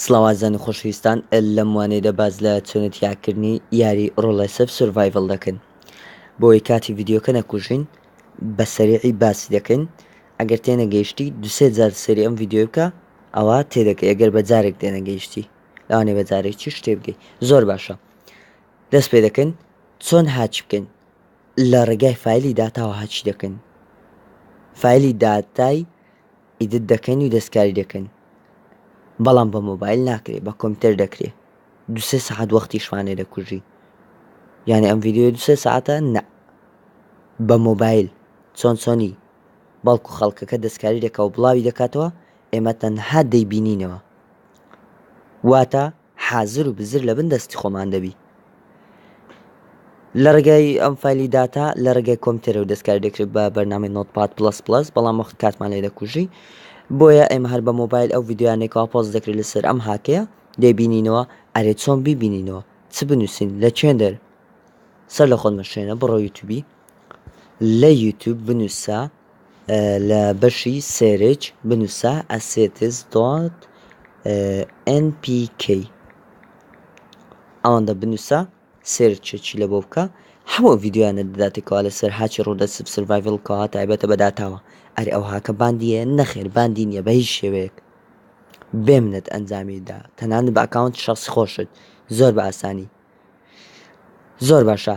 سڵاو ئازیزان و خۆشەویستان لەم وانەیەدا باس لە چۆنێت یاکردنی یاری ڕۆڵێسف سرڤایڤڵ دەکەین بۆی کاتی ڤیددیوکە نەکوژین بە سەریعی باسی دەکەین ئەگەر تێنەگەیشتی دوسێ جار سەری ئەم ڤیددیو بکە ئەوە تێدەکە ئەگەر بە جارێک تێنەگەیشتی لەوانێ بە جارێک چی شتێ بگەی زۆر باشە دەست پێ دەکەین چۆن هاچ بکەین لە ڕێگای فیلی داتاوە هاچی دەکەین فیلی داتای ئیدت دەکەن و دەستکاری دەکەن بەڵام بە مۆبایل ناکرێ بە کۆمپیوتەر دەکرێ دو سێ سەعات وەختی شوانێ دەکوژی یعنی ئەم ڤیددیو دو سێ ساعتە نە بە مۆبایل چۆن چۆنی بەڵکو خەڵکەکە دەستکاری دەکە و بڵاوی دەکاتەوە ئێمە تەنها دەیبینینەوە واتە حازر و بزر لە بن دەستی خۆمان دەبی لە ڕێگای ئەم فایلی داتا لە ڕێگای کۆمپیوتەرەوە دەستکاری دەکرێت بە بەرنامی نۆتپات پلس پلس بەڵام وەخت کاتمان لێ دەکوژی بۆیە ئێمە هەر بە مۆبایل ئەو ڤیددیوانێکەوە پۆز دەکرێت لەسەر ئەم هاکەیە دەبینینەوە ئەرێ چۆن بیبینینەوە چ بنووسین لە چێندەر سەر لە خۆت مەشێنە بڕۆ یوتوبی لە یوتوب بنووسە لە بەشی سێرچ بنووسە ئەسێتس دۆت ئێن پی کەی ئەوەندە بنووسە سێرچێکی لە بۆ بکە هەموو ڤیددیوانە دەداتێکەوە لەسەر هاچی ڕوودە سرڤایڤل کەوا تایبەتە بەداتاوە ئەری ئەو هاکە باندیە نەخێر باندی نییە بە هیچ شێوەیەک بێمنت ئەنجامیدا تەنانە بە ئەکاونت شخص خۆشت زۆر بە ئاسانی زۆر باشە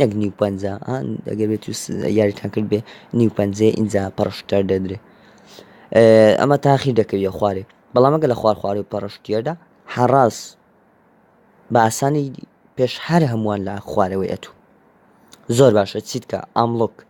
نەک نیو پەنجا ئەگەر بێت یاریتان کرد بێ نیو پەنجێ ئینجا پەڕشتەر دەدرێ ئەمە تاخیر دەکەویە خوارێ بەڵامەگە لە خوار خوارێ پەڕشتێدا حەڕاز بە ئاسانی پێش هەر هەمووان لە خوارەوەی ئەتوو زۆر باشە چیتکە ئاملوک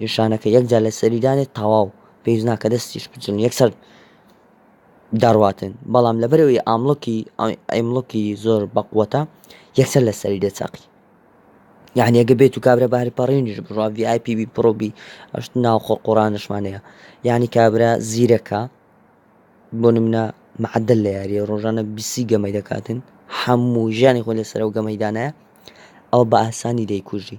نیشانەکە یەکجار لەسەری دانێت تەواو پێویست ناکە دەستیش بچن یەکسەر دەڕواتن بەڵام لەبەرەوەی ئاملکی ئەیملکی زۆر بەقوەتە یەکسەر لەسەری دەچەقی یعنی ئەگە بێت و کابرا بەهر پەڕێنیش بڕوا VIP بی پڕۆبی ئەشت ناو خۆ قۆڕانشمانەیە یعنی کابرا زیرەکە بۆ نمنە معدل لە یاریە ڕۆژانە بیسی گەمەی دەکاتن هەموو ژیانی خۆ لەسەر و گەمەیدانە ئەو بە ئاسانی دەیکوژی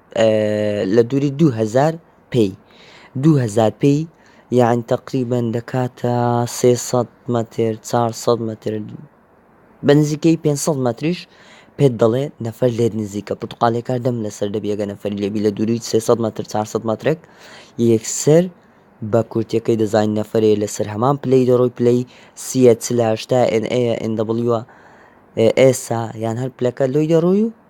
لە دووری دوو هەزار پێی دوو هەزار پێی یان تەقریبەن دەکاتە سێ سەد مەتر چار سەد مەتر بە نزیکەی پێ سەد مەتریش پێت دەڵێ نەفەر لێت نزیکە پرتقالێکار دەم لەسەر دەبیەگە نەفەر لێبی لە دووری 300 متر 400 مترێک یەکسەر بە کورتەکەی دەزانین نەفرەیە لەسەر هەمان پلەی دەڕۆی پلەی سیە چلاشتا NA NW ئێسا یان هەر پلەکە لۆی دەڕۆی و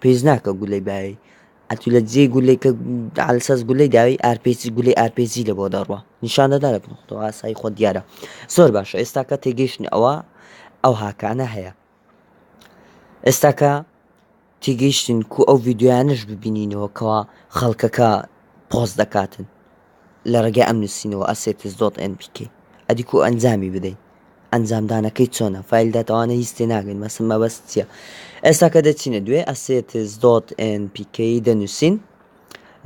پیس ناکە گولەی باوی ئەتو لە جێ گولەی کە دالسەز گولەی داوی ئارپیسی گولەی ئارپێزی لە بۆ دەڕوە نیشانەدا لە بنەخەوە ئاسایی خۆ دیارە زۆر باشە ئێستاکە تێگەیشتن ئەوە ئەو هاکانە هەیە ئێستاکە تێگەیشتن کو ئەو یددیویانش ببینینەوە کەوا خەڵکەکە پۆست دەکاتن لە ڕێگای ئەم نووسینەوە assets dot npk ئەدی کو ئەنجامی بدەین ئەنجام دانەکەی چۆنە فایل دات ئەوانە هیچ تێ ناگەن مەسم مەبەست چییە ئێستا کە دەچینە دوێ assets dot npk دەنووسین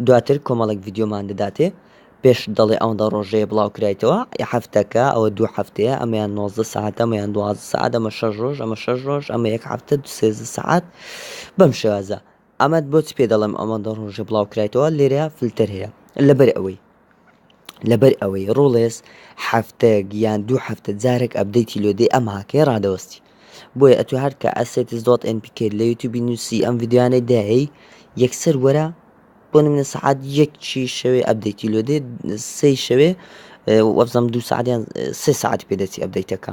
دواتر کۆمەڵێک ڤیددیۆمان دەداتێ پێش دەڵێ ئەوەندە ڕۆژەیە بڵاو کرایتەوە هەفتەکە ئەوە دوو هەفتەیە ئەمەیان 90 ساعت ئەمەیان دو ساعت ئەمە شەش ڕۆژ ئەمە شەش ڕۆژ ئەمە یەک هەفتە دوسێزە ساعت بەم شێوازە ئەمەت بۆچ پێ دەڵێم ئەوەندە ڕۆژە بڵاوکرایتەوە لێرە فلتەر هەیە لەبەر ئەوەی لەبەر ئەوەی ڕۆڵێس هەفتەیەک یان دوو هەفتە جارێک ئەبدەیتی لۆدەی ئەم هاکەیە ڕادەوەستی بۆیە ئەتو هەرکە ئەسێتس دۆت ئەن پیکێت لە یوتوبی نووسی ئەم یددیوانەی داهەی یەکسەر وەرە بۆ منە سەعات یەکی شەوێ ئەبدەیتی لۆدێ سەی شەوێ وەبزەم دوو سعاتیان سێ سعات پێدەچی ئەبدەیتەکە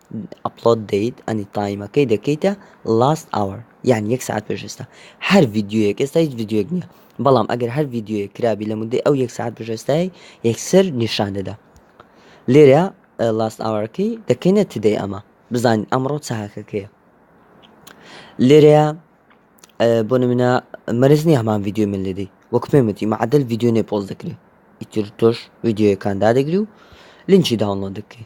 ئەپڵۆد دەیت ئەنی تایمەکەی دەکەیتە لاست ئاوەر یان یەک ساعت پێش ئێستا هەر ڤیددیوەک ئێستا هیچ ڤیددیوەک نییە بەڵام ئەگەر هەر ڤیددیوەک کرابی لە مدەی ئەو یەک ساعت پێشێستای یەکسەر نیشان دەدا لێرە لاست ئاوەرەکەی دەکەینە تدەی ئەمە بزانین ئەمڕۆ چاکەکەیە لێرەیە بۆ منە مەرز نیە هەمان ڤیددیو من لێدەی وەک پێمەتی معدل ڤیددیو نێ پۆز دەکرێت ئیتر تۆش ڤیددیوەکان دادەگری و لینچی داونڵۆ دەکەی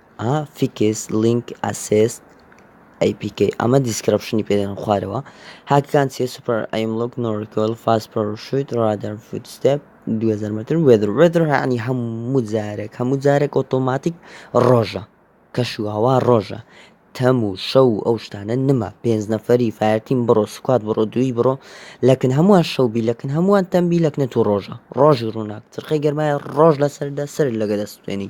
ئا فیکس لینک ئەسێست ئەی پی کەی ئەمە دیسکرپشنی پێدەن خوارەوە هاکەکان چیە سوپەر ئەیملوک نۆرکۆل فاس پەرشویت ڕادەر فوتستێپ 2000 متر وێدر وێدر هەعنی هەموو جارێک هەموو جارێک ئۆتۆماتیک ڕۆژە کەش و هەوا ڕۆژە تەم و شەو و ئەو شتانە نما پێنج نەفەری فایرتیم بڕۆ سوکات بڕۆ دووی بڕۆ لەکن هەمووان شەوبی لەکن هەمووان تەمبی لەکنە تو ڕۆژە ڕۆژی ڕووناک ترخی گەرمایە ڕۆژ لەسەر دەسەر لەگە دەستێنی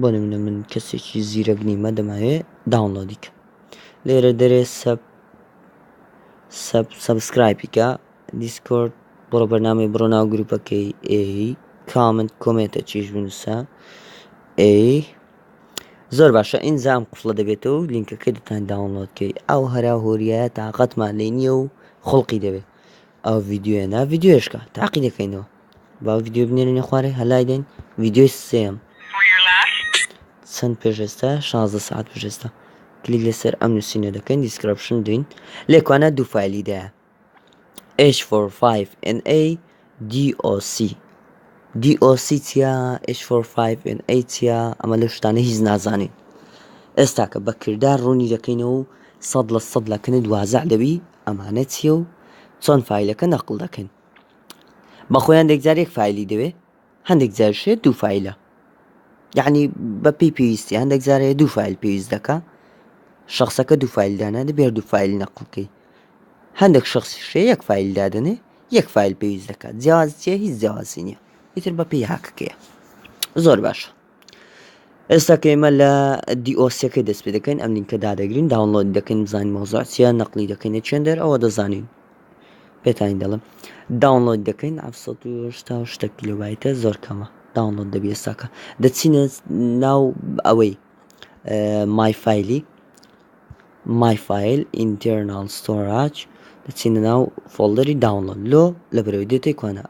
بۆ نمونە من کەسێکی زیرەک نیمە دەماوێ داونلۆدی کە لێرە دەرێ سەب سەب سەبسکرایپیکە دیسکۆرد بڕۆ بەرنامی بڕۆ ناو گروپەکەی ئێ کامنت کۆمێتە چیش بنووسە ئێ زۆر باشە ئینجام قفڵە دەبێتەوە و لینکەکەی دەتان داونلۆدکەی ئەو هەرا هۆریە تااقەتمان لێ نییە و خڵقی دەبێت ئەو یددیوە نا یددیوشکە تاقی دەکەینەوە با ڤیدیۆ بنێرینە خوارێ هەلای دەین ڤیدیۆی سێم چەند پێش ئێستا 16 ساعت پێش ئێستا کلیک لەسەر ئەم نووسینە دەکەین دیسکرپشن دوین لێکوانە دوو فایلی دایە H45NA DOC DOC چیا H45NA چیا ئەمە لە شتانە هیچ نازانین ئێستاکە بە کردار ڕوونی دەکەینەوە و سەد لە سەد لەکەنت وازع دەبی ئەمانە چیە و چۆن فیلەکە نەقل دەکەین بەخۆی هەندێک جار یەک فیلی دەوێ هەندێک جارشێت دوو فیلە یعنی بە پێی پێویستی هەندێک جارێ دوو فیل پێویست دەکە شخصەکە دوو فیل دانا دەبێ دوو فیل نەقلکەی هەندێک شخص شێ یەک فیل دادنێ یەک فیل پێویست دەکات جیاز چیە هیچ جیازی نیە ئیتر بە پێی هاکەکەیە زۆر باشە ئێستا کە ئێمە لە دیۆسیەکەی دەست پێ دەکەین ئەم لینکە دادەگرین داونلۆد دەکەین بزانین مۆزار چیە نەقلی دەکەین چێن دەر ئەوە دەزانین پێتانی دەڵم داونلۆد دەکەین ئەفسەشتا شتە کیلوبایتە زۆر کەمە داونلۆد دەبی ئێستاکە دەچینە ناو ئەوەی مایفایلی مایفایل ئینتەرنال ستۆراج دەچینە ناو فۆلدەری داونلۆد لۆ لە بەرەوەی دێتەی کۆنا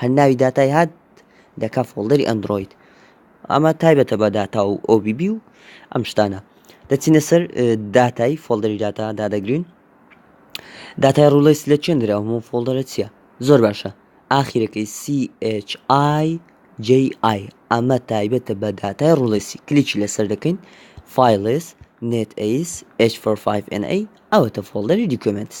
هەر ناوی داتای هات دەکا فۆڵدەری ئەندرۆید ئەمە تایبەتە بە داتا و OBB و ئەم شتانە دەچینە سەر داتای فۆڵدەری داتا دادەگرین داتای ڕوڵیس لە چێن درا هەموو فۆڵدەرە چییە زۆر باشە ئاخیرەکەی CHI JI ئەمە تایبەتە بە داتای ڕوڵیسی کلیکی لەسەر دەکەین فیلس نت ئەیس H45NA ئەوەتە فۆڵدەری دیکۆمنتس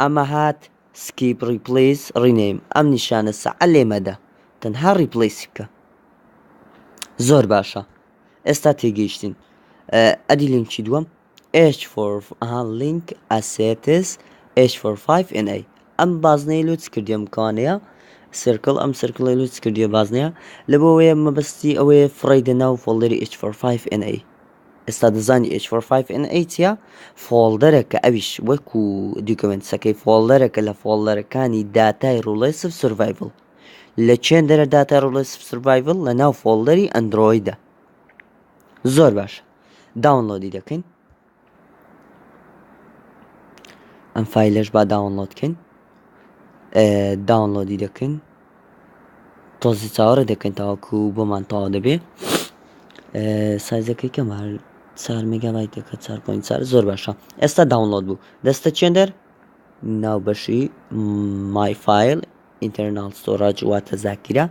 ئەمە هات سکیپ ڕیپلیس ڕینەیم ئەم نیشانە سەع لێ مەدە تەنها ڕیپلیسی بکە زۆر باشە ئێستا تێگەیشتین ئەدی لینکی دووەم H4 لینک ئەسێتس H45NA ئەم بازنەی لوت کردیم کانەیە سرکل ئەم سرکڵی لوت کردیە بازنەیە لە بۆ وەیە مەبەستی ئەوەیە فڕی دە ناو فۆڵدەری H45NA ئێستا دەزانی ئێچ فۆر فایڤ ئێن ئەی چیە فۆڵدەرێکە ئەویش وەکو دیکۆمنتسەکەی فۆڵدەرێکە لە فۆڵدەرەکانی داتای ڕوڵێ سف سرڤایڤل لە چێن دەرە داتا ڕوڵێ سف سرڤایڤل لە ناو فۆڵدەری ئەندرۆیدە زۆر باش داونلۆدی دەکەین ئەم فیلش با داونلۆدکەین داونلۆدی دەکەین تازە چاوەڕێ دەکەین تاوەکو بۆمان تەواو دەبێ سایزەکەی کەم هەر چار میگابای دەکە چار پوین چار زۆر باشە ئێستا داونلۆد بوو دەستە چێندەر ناو بەشی مایفیل ئینتەرنال سۆراج واتە زاکیرە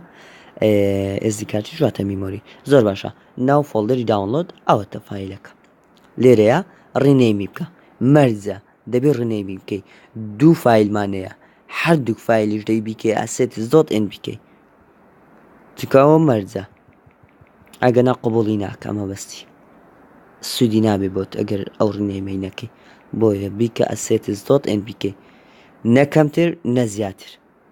ئێزدی کاتی ژاتە میمۆری زۆر باشە ناو فۆلدەری داونلۆد ئەوەتە فیلەکە لێرەیا ڕینەیمی بکە مەرجە دەبێت ڕینەیمی بکەی دوو فیلمانەیە هەردوو فیلیش دەی بیکەی ئاسێت زۆت ئەن بیکەی چکاوە مەرجە ئەگە نا قوبڵی ناکە ئەمە بەستی سوودی نابێ بۆت ئەگەر ئەو ڕینەیمەی نەکەی بۆیە بیکە ئەسێت زۆت ئەن بیکەی نەکەمتر نە زیاتر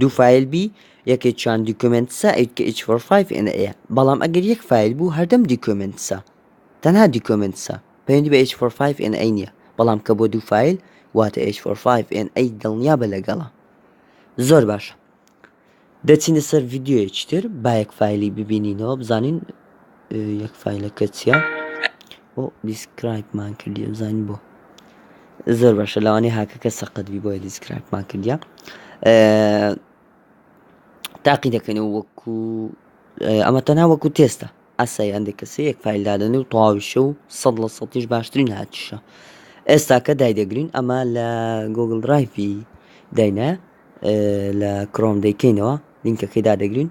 دوو فایل بی یەکێکیان دیکۆمێنتسە ئەویت کە ئیچ فۆر فایڤ ئێن ئەیە بەڵام ئەگەر یەک فایل بوو هەردەم دیکۆمێنتسە تەنها دیکۆمێنتسە پەیوەندی بە ئیچ فۆر فایڤ ئێن ئەی نییە بەڵام کە بۆ دوو فایل واتە ئیچ فۆر فایڤ ئێن ئەی دڵنیا بە لەگەڵە زۆر باشە دەچینە سەر ڤیددیوەیەکی تر با یەک فایلی ببینینەوە بزانین یەک فایلەکە چیە بۆ دیسکرایبمان کردی بزانین بۆ زۆر باشە لەوانەیە هاکەکە سەقەتبی بۆیە دیسکرایبمان کردیا تاقی دەکەن و وەکو ئەمە تەنها وەکو تێستە ئاسای هەندێک کەسی یەک فیلدادن و تەواویشە و سەد لە سەتیش باشترین هاتیشە ئێستاکە دایدەگرین ئەمە لە گۆگل درایڤی داینە لە کرۆم دەیکەینەوە لینکەکەی دادەگرین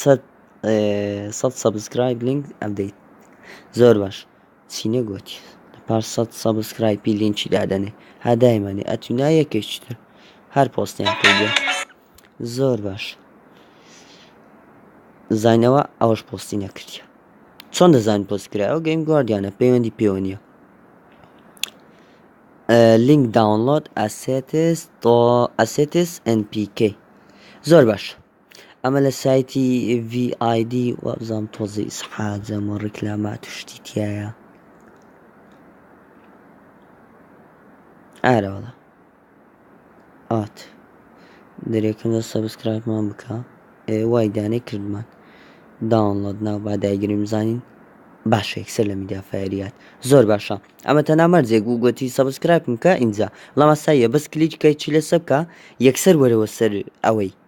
سەد سەد سەبسکرایب لینک ئەبدەیت زۆر باش چی نەگوتی پاش سەد سەبسکرایپی لینکی دادەنێ هادایمانێ ئەتونا یەکێکی تر هەر پۆستیان پێگە زۆر باش زانەوە ئەوەش پۆستی نەکردە چۆن دەزان پۆست کرایەوە گەیم گواردیانە پەیوەندی پێوە نیە لینک داونلۆد ئەسێتس تۆ ئەسێتس NPK زۆر باش ئەمە لە سایتی VID وابزانم تۆزی ئیسحاجەم و ڕیکلامات و شتی تایە ئارەوەڵە ئات دەرێکم لە سەبسکرایبمان بکە وای دانێ کردمان داونڵۆد ناو با دایگریم زانین باشە یەکسەر لە میدیا فەریات زۆر باشە ئەمە تەنا مەرجێک و گوتی سەبسکرایبم کە ئینجا لەمە سایە بەس کلیچکەی چی لەسە بکە یەکسەر وەرەوە سەر ئەوەی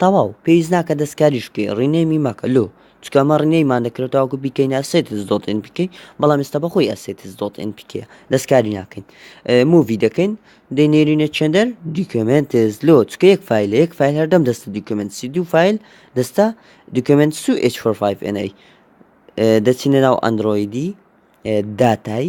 تەواو پێویست ناکە دەستکاریش بکەی ڕینێمی مەکە لۆ چکە ئەمە ڕینێمان دەکرێت تاوەکو بیکەین ئەسێتس دۆت ئن بکەین بەڵام ئێستا بەخۆی ئەسێتس دۆت ئن بکە دەستکاری ناکەین مووی دەکەین دەینێرینە چێندەر دیکمنتز لۆ چکە یەک فیل یەک فیل هەردەم دەستە دیکمنت سی دوو فیل دەستە دیکمنت سو H45 NA دەچینە ناو ئەندرۆیدی داتای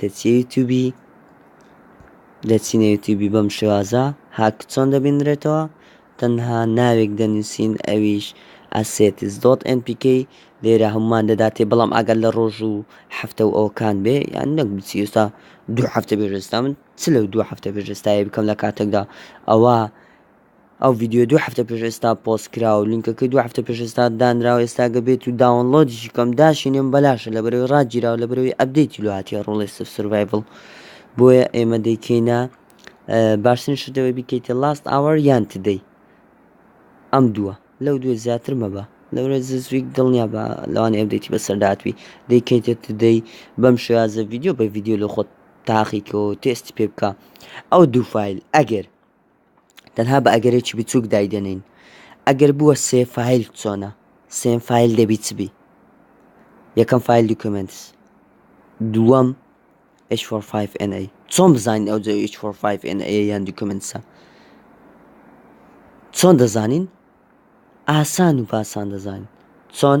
دەچیە یوتوبی دەچینە یوتوبی بەم شێوازە هاک چۆن دەبینرێتەوە تەنها ناوێک دەنووسین ئەویش ئەسێتس دۆت NPK لێرە هەمومان دەداتێ بەڵام ئەگەر لە ڕۆژ و هەفتە و ئەوکان بێ یان نەک بچی ئێستا دوو هەفتە بێژستا من چ لەو دوو هەفتە بێژستایی بکەم لە کاتێکدا ئەوە ئەو ڤیدیۆیە دوو هەفتە پێش ئێستا پۆست کرا و لینکەکەی دوو هەفتە پێش ئێستا دانرا و ئێستا گەر بێت و داونڵۆدیشی کەم داشینێم بەلاشە لەبەرئەوەی ڕاگیرا و لەبەرەوەی ئەپدەیتی لۆ هاتیە ڕۆڵێست ئۆف سروایڤڵ بۆیە ئێمە دەیکەینە باشترین شتەوەی بیکەیتە لاست ئاوەر یان تدەی ئەم دووە لەو دوێ زیاتر مەبە لەورە زویک دڵنیا بە لەوانی ئەبدێتی بەسەرداتوی دەیکەیتە تدەی بەم شێازە ڤیددیو بە ڤیددیو لە خۆت تاقیکەوە تێستی پێ بکە ئەو دوو فیل ئەگەر تەنها بە ئەگەرێکی بچووک دایدەنین ئەگەر بووە سێ فیل چۆنە سێن فیل دەبی چبی یەکەم فیل دوکمنت دووەم H45NA چۆن بزانین ئەو جێ H45NA یان دوکمنسە چۆن دەزانین ئاسان و پاسان دەزانین چۆن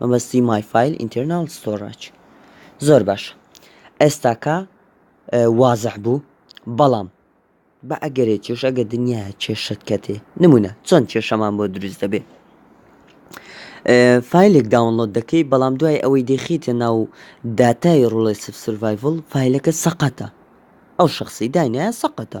مەبەستی مای فایل ئینتەرناڵ ستۆڕاج زۆر باشە ئێستاکە وازح بوو بەڵام بە ئەگەرێ کێش ئەگە دنیا کێشت کەتێ نمونە چۆن کێشەمان بۆ دروست دەبێ فیلێک داونلۆد دەکەی بەڵام دوای ئەوەی دەخیتە ناو داتای ڕڵێ سف سڤایڤل فیلەکە سەقەتە ئەو شخصی داینایە سەقەتە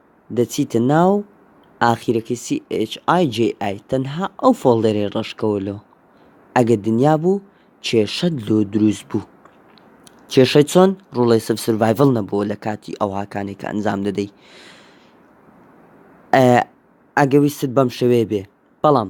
دەچیتە ناو ئاخیرەکەی CHIJI تەنها ئەو فۆڵدەرەی ڕەشکەوە لۆ ئەگە دنیا بوو کێشەت لۆ دروست بوو کێشەی چۆن ڕوڵەی سف سرڤایڤڵ نەبووە لە کاتی ئەو هاکانێک کە ئەنجام دەدەی ئەگە ویستت بەم شەوێ بێ بەڵام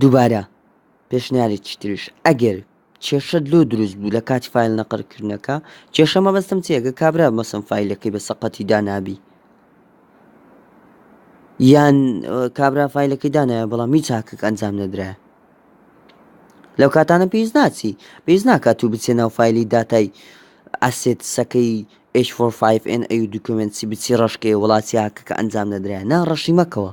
دووبارە پێشنیارێکی تریش ئەگەر کێشەت لۆ دروست بوو لە کاتی فیل نەقڕکردنەکە کێشە مەبەستم چێگە کابرا مەسم فیلەکەی بە سەقەتی دانابی یان کابرا فیلەکەی دانایە بەڵام هیچ چاکک ئەنجام نەدرایە لەو کاتانە پێویست ناچی پێویست ناکات و بچێ ناو فیلی داتای ئەسێت سەکەی H45N ئەو دوکمنتی بچی ڕشکەیە وڵاتی هاکەکە ئەنجام نەدرای نا ڕەشی مەکەوە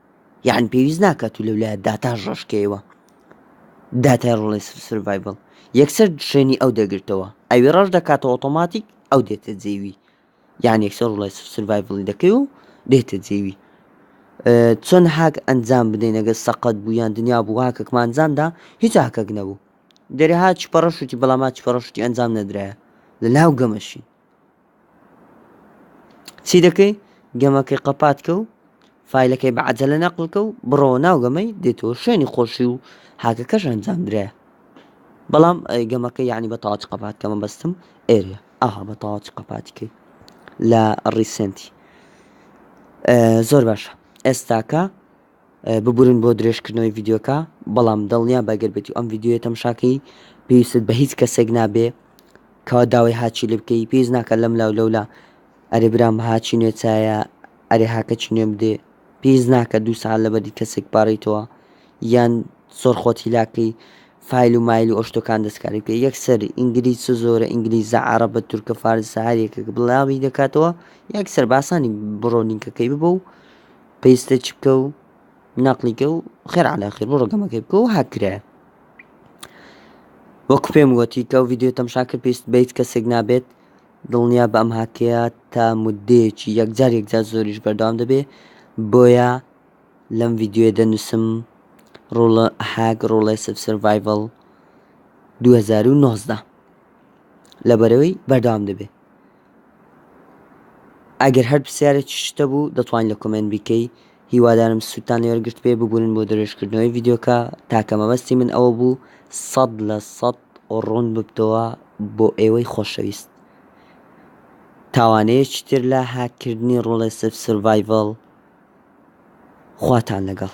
یان پێویست ناکات و لەولایە داتا ڕشکەیەوە داتای ڕۆڵی سرڤایبل یەکسەر شوێنی ئەو دەگرتەوە ئەوی ڕەش دەکاتە ئۆتۆماتیک ئەو دێتە جێوی یان یەکسەر ڕڵی سرڤایبلی دەکەی و دێتە جێوی چۆن هاک ئەنجام بدەین ئەگەر سەقەت بوو یان دنیا بوو هاکەکمانجامدا هیچ هاکەک نەبوو دەرێ هاچ پەڕەشوتی بەڵام ماچ پەڕەشتی ئەنجام نەدرایە لە ناو گەمەشین چی دەکەی گەمەکەی قەپاتکە و فیلەکەی بە عجلە نەقلکە و بڕەوە ناو گەمەی دێتەوە شوێنی خۆشی و هاکەکەش ئەنجام درایە بەڵام گەمەکە یعنی بە تاچ قەپات کەمە بەستم ئێرە ئاها بە تاچ قەپاتیکەی لە ڕیسنتی زۆر باشە ئێستاکە ببورن بۆ درێژکردنەوەی ڤیدیۆکە بەڵام دڵنیابە گەر بێتی ئەم ڤیدیۆیە تەمشاکەی پێویستت بە هیچ کەسێک نابێ کەوا داوای هاچی لێ بکەی پێویست ناکە لەم لاو لەولا ئەرێ برام هاچی نوێ چایە ئەرێ هاکە چی نوێ بدێ پێویست ناکە دوو سعات لەبەری کەسێک پاڕیتەوە یان زۆر خۆت هیلاکەی فیل و مایل و ئۆشتەکان دەستکاری پێ یەکسەر ئینگلیز چ زۆرە ئینگلیزە عربە تورکە فارسە هەریەکە بڵاوی دەکاتەوە یەکسەر باسانی بڕۆنینکەکەی ببە و پێستە چ بکە و نەقلیکە و خێر علا خێر بۆ ڕگەمەکەی بکە و هاکرایە وەکو پێم وەتی کە و یددیو تەمشاکە پێست بیت کەسێک نابێت دڵنیا بە ئەم هاکەیە تا مدەیەکی یەکجار یەکجار زۆریش بەردەوام دەبێ بۆیە لەم یددیوێ دەنووسم ڕۆڵە هاک ڕۆڵێ سڤایڤل 2019 لەبەرەوەی بەردەوام دەبێت ئەگەر هەر پرسیارێکی شت هەبوو دەتوانی لە کۆمێنت بیکەی هیوادارم سوودتان لێ وەرگرتبێ ببورن بۆ درێژکردنەوەی ڤیدیۆکە تاکە مەبەستی من ئەوە بوو سەد لە سەد ڕوون ببتەوە بۆ ئێوەی خۆشەویست تاوانەیەکی تر لە هاککردنی ڕۆڵێ سف سڤایڤڵ خواتان لەگەڵ